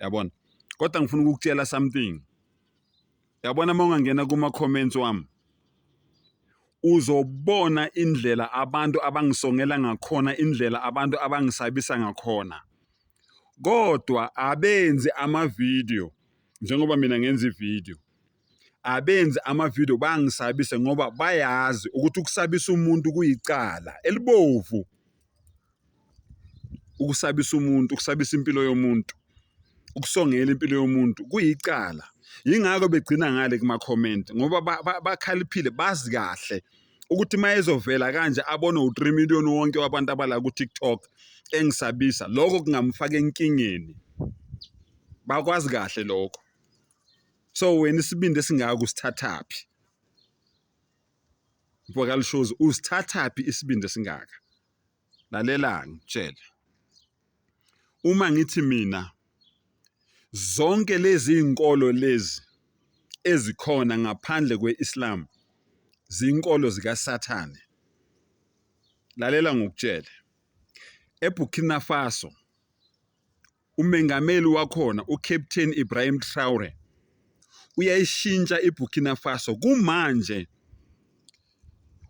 yabona kodwa ngifuna ukukutshela something yabona uma ungangena kuma-comments wami uzobona indlela abantu abangisongela ngakhona indlela abantu abangisabisa ngakhona kodwa abenzi amavidiyo njengoba mina ngenza ividiyo abenzi amavidiyo bangisabise ngoba bayazi ukuthi ukusabisa umuntu kuyicala elibovu ukusabisa umuntu ukusabisa impilo yomuntu ukusongela impilo yomuntu kuyicala yingakho begcina ngale kuma-comment ngoba bakhaliphile bazi kahle ukuthi uma ezovela kanje abone u-three million wonke wabantu abala ku-tiktok engisabisa lokho kungamfaka enkingeni bakwazi kahle lokho so wena isibindi esingaka usithathaphi mfokalishozi usithathaphi isibindi esingaka lalela ngitshele uma ngithi mina zonke lezi inkolo lezi ezikhona ngaphandle kweIslam zinkolo zikaSathane lalela ngokutshele eBurkina Faso Umengameli wakhona uCaptain Ibrahim Traore uyayishintsha iBurkina Faso kumanje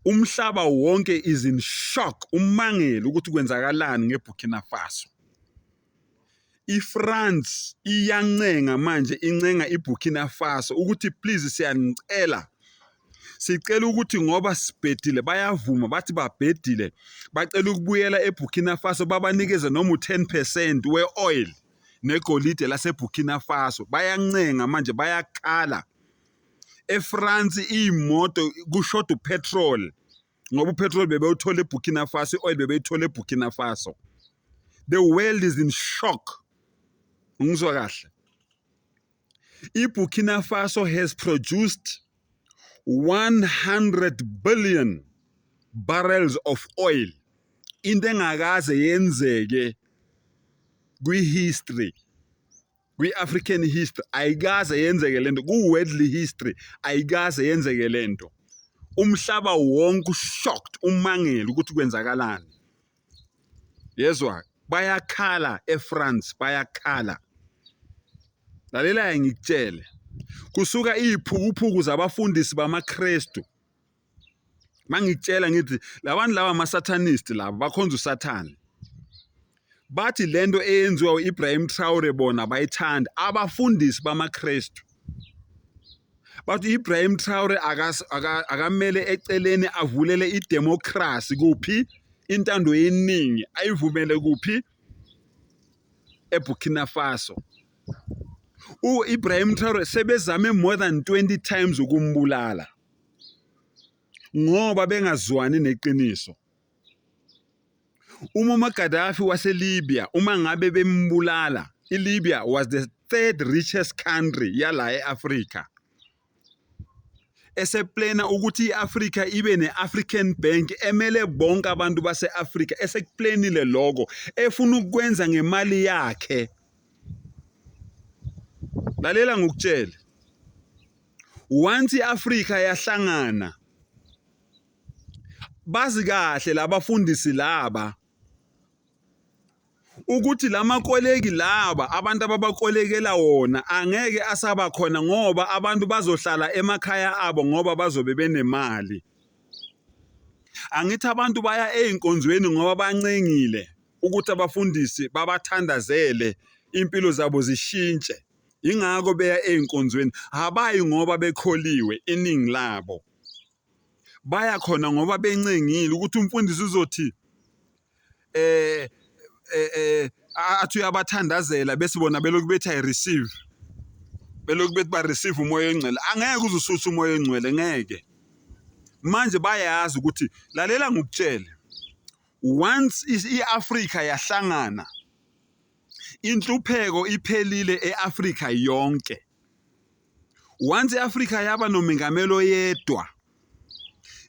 umhlaba wonke is in shock umangele ukuthi kwenzakalani ngeBurkina Faso. IFrance iyancenga manje incenga iBurkina Faso ukuthi please siyanicela sicela ukuthi ngoba sibhedile bayavuma bathi babhedile bacela ukubuyela eBurkina Faso babanikeze noma u-10 percent we-oil negolide laseBurkina Faso bayancenga manje bayakhala eFrance iy'moto kushoda upetrol ngoba upetrol bebewuthola eBurkina Faso i-oil bebeyithola eBurkina Faso the world is in shock ngizwa kahle iBurkina Faso has produced 100 billion barrels of oil into engakaze yenzeke kwi-history kwi-African history ayikaze yenzeke lento ku-worldly history ayikaze yenzeke lento umhlaba wonke ushocked umangele ukuthi kwenzakalani yezwa bayakhala eFrance bayakhala lalela-ke ngikutshele kusuka iy'phukuphuku zabafundisi bamaKristu mangikutshela ngithi labantu laba ama-satanist laba bakhonza usathane bathi lento eyenziwa u-Ibrahim Traore bona bayithanda abafundisi bamaKristu bathi Ibrahim Traore akamele eceleni avulele idemocracy kuphi intando yeningi ayivumele kuphi eBurkina Faso uIbrahim Traore sebezame more than 20 times ukumbulala ngoba bengazwani neqiniso uMuammar Gaddafi waseLibya uma ngabe bembulala iLibya was the third richest country yala e-Afrika eseplena ukuthi i-Afrika ibe ne-African Bank emele bonke abantu base-Afrika esekuplenile lokho efuna ukukwenza ngemali yakhe lalela ngokutshela once i-Afrika yahlangana bazi kahle labafundisi laba ukuthi lamakoleki laba abantu ababakolekela wona angeke asaba khona ngoba abantu bazohlala emakhaya abo ngoba bazobe benemali angithi abantu baya ezinkonzweni ngoba bancengile ukuthi abafundisi babathandazele impilo zabo zishintshe ingakho beya ezinkonzweni habayi ngoba bekholiwe iningi labo baya khona ngoba bencengile ukuthi umfundisi uzothi eh eh, eh athi uyabathandazela bese bona belokhu bethi i receive belokhu bethi ba receive umoya ongcwele angeke uze ususe umoya ongcwele ngeke manje bayazi ukuthi lalela ngokutshele once i-Africa yahlangana inhlupheko iphelile e-Africa yonke once iAfrika yaba nomengameli oyedwa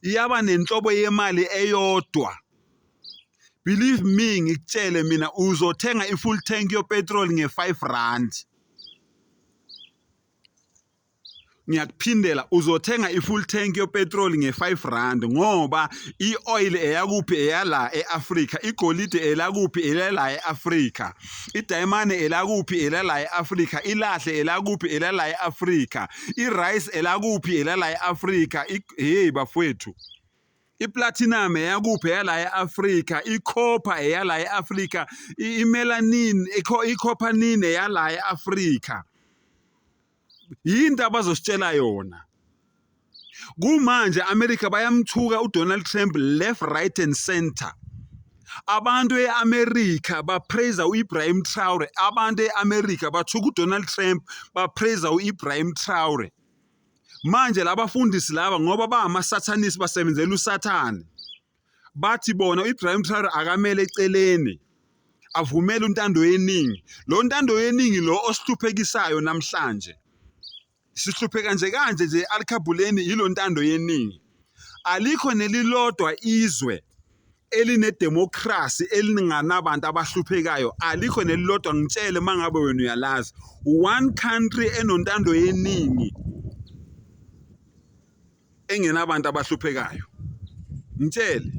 iyaba nenhlobo yemali eyodwa believe me ngikutshele mina uzothenga i-full tank yopetrol nge-five rand ngiyakuphindela uzothenga i-full tank yopetrol nge-five rand ngoba i-oil eyakuphi eyala e-afrika igolide elakuphi elala e-afrika idayimane elakuphi elala e-afrika ilahle elakuphi elala e-afrika i-rice elakuphi elala e-afrika hey bafowethu iplatinum eyakuphi eyala e-afrika ikhopha eyala e-afrika imelanin ikhophanin eyala e-afrika yinto abazositshela yona kumanje America bayamthuka uDonald Trump left right and center abantu eAmerica bapraise uIbrahim Traore abantu eAmerica bathuka uDonald Trump bapraise uIbrahim Traore manje labafundisi laba ngoba bama sathanisi basebenzela usathane bathi bona u-Ibrahim Traore akamele eceleni avumele untando yeningi lo ntando yeningi lo osihluphekisayo namhlanje sihlupheka nje kanje nje alikhabhuleni yilo ntando yeningi alikho nelilodwa izwe elinedemokhrasi elinganabantu abahluphekayo alikho nelilodwa ngitshele uma ngabe wena uyalazi one country enontando yeningi engenabantu abahluphekayo ngitshele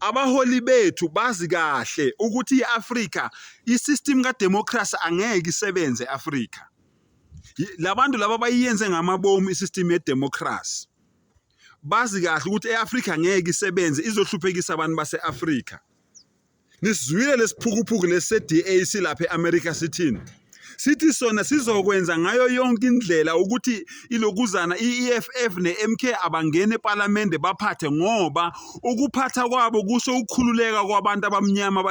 abaholi bethu bazi kahle ukuthi i-Afrika i-system kademocracy angeke isebenze e-Afrika labantu laba bayiyenze ngamabomu i-system yedemocracy bazi kahle ukuthi e-Afrika ngeke isebenze izohluphekisa abantu base-Afrika Nisizwile lesiphukuphuku lesi-DA silapha e-America sithini? Sithi sona sizokwenza ngayo yonke indlela ukuthi ilokuzana i-EFF ne-MK abangene ePalamende baphathe ngoba ukuphatha kwabo kusho ukukhululeka kwabantu abamnyama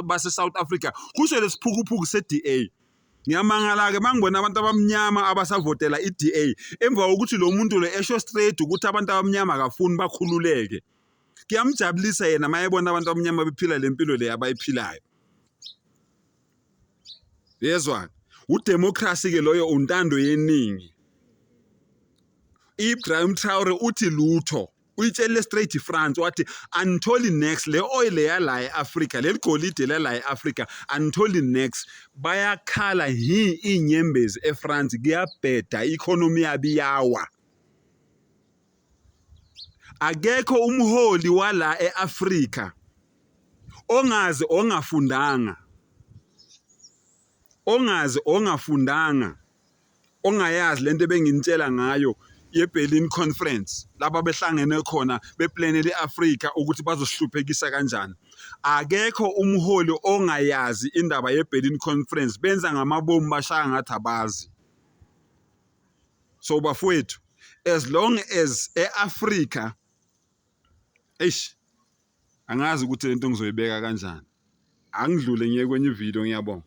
base-South Africa, kusho lesiphukuphuku se-DA. Ngiyamangala-ke mangibona abantu abamnyama abasavotela i-DA emva kokuthi lo muntu lo esho straight ukuthi abantu abamnyama akafuni bakhululeke. kuyamjabulisa yena mayebona abantu abamnyama bephila le mpilo le abayiphilayo yezwa udemocracy ke loyo untando yeningi Ibrahim Traore uthi lutho uyitshele straight France wathi anitholi next le oil yala eAfrica leli golide lala eAfrica anitholi next bayakhala hi inyembezi eFrance kuyabheda economy yabiyawa akekho umholi wala e-Afrika ongazi ongafundanga ongazi ongafundanga ongayazi lento ebenginitshela ngayo ye-Berlin Conference laba behlangene khona beplanele i-Afrika ukuthi bazohluphekisa kanjani akekho umholi ongayazi indaba ye-Berlin Conference benza ngamabomu bashaya ngathi abazi so bafowethu as long as eAfrica eish angazi ukuthi lento ngizoyibeka kanjani angidlule ngiye kwenye ivideo ngiyabonga